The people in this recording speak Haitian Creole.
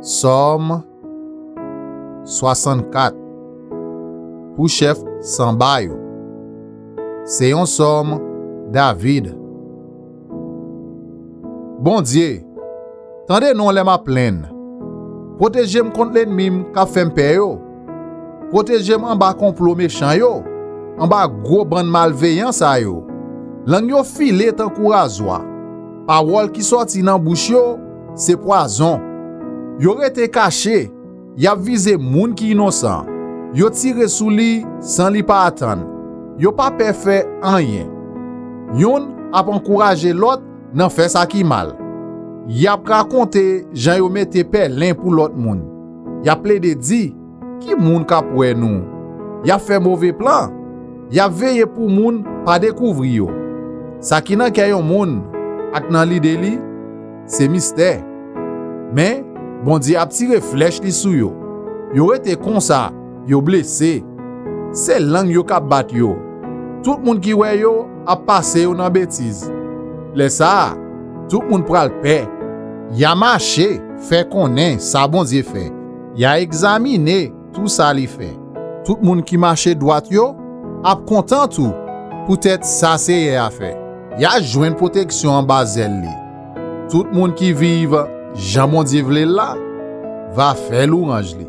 Sòm 64 Pou chèf sanba yo Se yon sòm David Bondye, tande non lè m ap plenn, Pwoteje m kont lènmi m k ap fè m pè yo, Pwoteje m anba konplo mechan yo, Anba gwo bann malveyan sa yo, Lang yo file tankou razwa. Pawòl ki sòti nan bouch yo se pwazon. Yo rete kache, y ap vize moun ki inosan, yo tire sou li san li pa atann, yo pa pè fè anyen. Youn ap ankouraje lòt nan fè sa ki mal. Y ap rakonte jan yo mete pèlen pou lòt moun, y ap plede di. Ki moun k ap wè nou? Y ap fè move plan. Y ap veye pou moun pa dekouvri yo. Sa ki nan kè yon moun ak nan lide li, se mistè. Men, Bondye ap tire flèch li sou yo. Yo rete konsa, yo blese. Se lang yo k ap bat yo. Tout moun ki wè yo ap pase yo nan betiz. Lè sa a, tout moun pral pè. Y a mache, fè konnen sa Bondye fè. Ya egzamine tou sa li fè. Tout moun ki mache dwat yo ap kontan tou poutèt sa Seyè a fè. Ya jwenn pwoteksyon anba zèl li. Tout moun ki viv jan Bondye vle l la va fè lwanj li.